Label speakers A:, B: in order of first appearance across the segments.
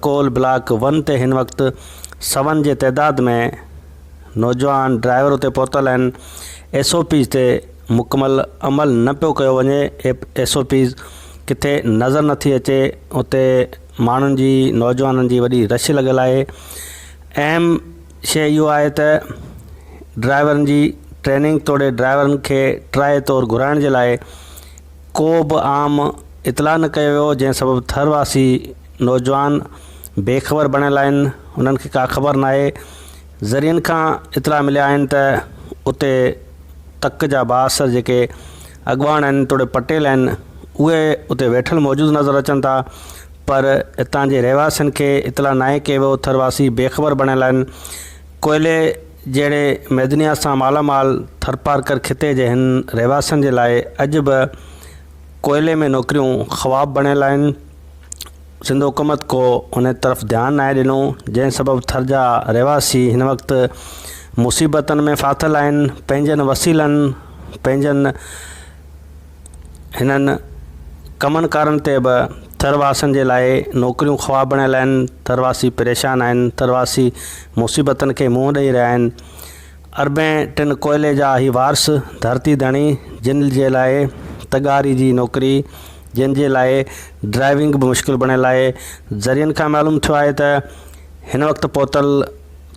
A: Coal block one تي هن وقت سون جي تعداد ۾ نوجوان ڊرائيور اتي پهتل آهن ايس او پيز تي مڪمل عمل نه پيو ڪيو وڃي ايس او پيز ڪٿي نظر نٿي اچي اتي ماڻهن جي نوجوانن جي وڏي رش لڳل آهي اهم شيء اهو آهي ته ڊرائيورن جي ٽريننگ توڙي ڊرائيورن کي ٽرائي طور گهرائڻ جي لاء ڪو به عام اطلاع نه ڪيو ويو جنهن سبب ٿر واسي نوجوان بي خبر بڻيل آهن انهن کي ڪا خبر ناهي ذريعن کان اطلاع مليا آهن ته اتي تڪ جا بااثر جيڪي اڳواڻ آهن توڙي پٽيل آهن اهي اتي ويٺل موجود نظر اچن ٿا پر اتان جي رهواسين کي اطلاع ناهي ڪي وهو ٿر واسي بي خبر بڻيل آهن. ڪوئلي جهڙي معدنيات سان مالا مال ٿرپارڪر خطي جي هن رهواسين جي لاء اڄ به ڪوئلي ۾ نوڪريون خواب بڻيل آهن. سنڌ حڪومت ڪو ان طرف ڌيان ناهي ڏنو جنهن سبب ٿر جا رهواسي هن وقت مصيبتن ۾ ڦاٿل آهن پنهنجن وسيلن پنهنجن هنن ڪمن ڪارن تي به ٿرواسن جي لاء نوڪريون خواب بڻيل آهن ٿرواسي پريشان آهن ٿرواسي مصيبتن کي منهن ڏئي رهيا آهن اربين ٽن ڪوئلي جا هي وارث ڌرتي ڌڻي جن جي لاء تڳاري جي نوڪري جن جي لاء ڊرائيونگ به مشڪل بڻيل آهي ذريعن کان معلوم ٿيو آهي ته هن وقت پهتل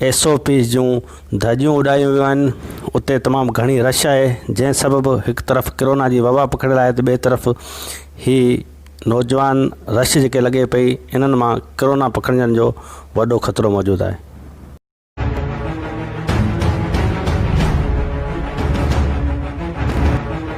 A: ايس او پيز جون ڌڄيون اڏايون ويون آهن اتي تمام گهڻي رش آهي جنهن سبب هڪ طرف ڪرونا جي وبا پکڙيل آهي ته ٻئي طرف هي نوجوان رش جيڪي لڳي پئي انهن مان ڪرونا پکڙجڻ جو وڏو خطرو موجود آهي.